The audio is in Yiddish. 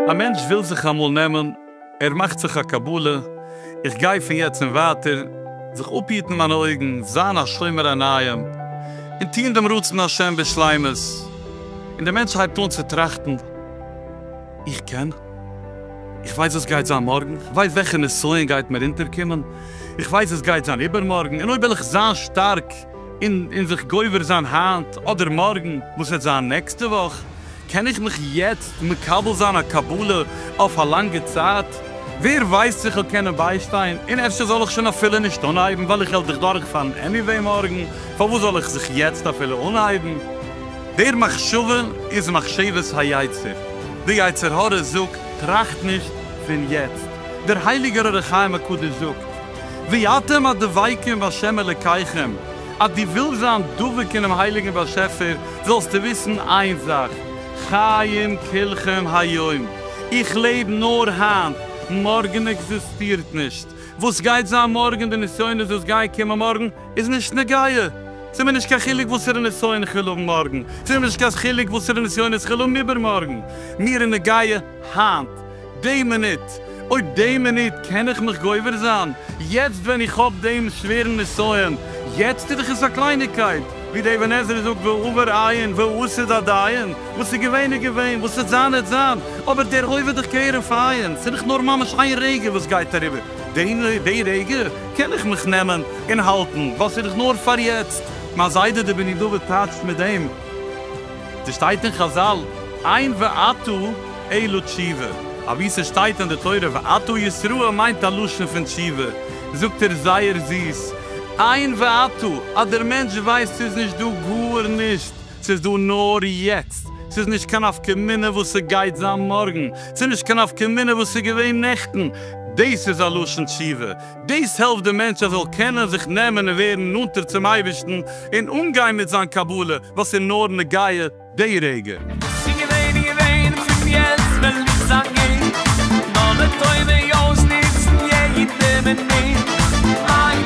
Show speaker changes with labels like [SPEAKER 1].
[SPEAKER 1] א מענטש וויל זיך אמאל נעמען, ער מאכט זיך א קבלה, איך גיי פון יעצט און ווייטער זיך אפהיטן מיינע אויגן, זיין א שומר עיניים, און טון דעם רצון השם בשלימות, און דער מענטש הייבט אן צו טראכטן, איך קען. איך ווייס וואס גייט זיין מארגן. איך ווייס וועלכע נסיון גייט מיר אונטערקומען. איך ווייס וואס גייט זיין איבערמארגן. און אויב וועל איך זיין שטארק און זיך גובר זיין היינט אדער מארגן, וואס וועט זיין נעקסטע וואך? קען איך מיך יעצט מקבל זיין א קבלה אויף א לאנגע צייט? ווער ווייסט צו כ'וועל קענען ביישטיין? און אפשר זאל איך שוין אפילו נישט אנהייבן ווייל איך העל זיך דורכפאלן עניוועי מארגן. פארוואס זאל איך זיך יעצט אפילו אנהייבן? דער מחשבה איז מחשבת היצר, די יצר הרע זאגט טראכט נישט פון יעצט, דער הייליגער אור החיים הקדוש זאגט ואתם הדבקים בה' אלקיכם, אז דו ווילסט זיין דבוק אינעם הייליגן באשעפער זאלסטו וויסן איין זאך, חיים כלכם היום, איך לעב נאר היינט, מארגן עקזיסטירט נישט, וואס גייט זיין מארגן, די נסיונות וואס גייען קומען מארגן, איז נישט נוגע. ס'איז מיר נישט קיין חילוק וואסערע נסיון כ'וועל האבן מארגן, ס'איז מיר נישט קיין חילוק וואסערע נסיונות כ'וועל האבן איבערמארגן, מיר איז נוגע היינט, די מינוט, אויב די מינוט קען איך מיך גובר זיין, יעצט ווען איך האב דעם שווערן נסיון, יעצט איז דאך עס א קלייניגקייט, ווי דער אבן עזרא זאגט והעבר עיין והעתיד עדיין, וואס איז געווען איז געווען, וואס העט זיין העט זיין, אבער דער הווה איז דאך כהרף עין, ס'איז דאך נאר ממש איין רגע וואס גייט אריבער, די רגע. קען איך מיך נעמען און האלטן וואס איך נאר פאר יעצט. מיין זיידע די בני דוד טייטשט מיט דעם, ס' שטייט אין חזל עיין ועתה אלו תשובה, אבי ס' שטייט אין די תורה ועתה ישראל מיינט א לשון פון תשובה, זאגט ער זייער זיס עיין ועתה אז דער מענטש ווייסט ס'איז נישט דא גארנישט, ס'איז דא נאר יעצט, ס'איז נישט קיין נפקא מינה וואס ס'גייט זיין מארגן, ס'איז נישט קיין נפקא מינה וואס איז געווען נעכטן, דאס איז א לשון תשובה, דאס העלפט די מענטש ער זאל קענען זיך נעמען און ווערן נאנטער צום אייבערשטן און אנגיין מיט זיין קבלה וואס איז נאר נוגע די רגע. שוין געווען איז געווען, פון יעצט וועל איך זיין גוט, נאר לטובה אויסנוצן יעדע מינוט.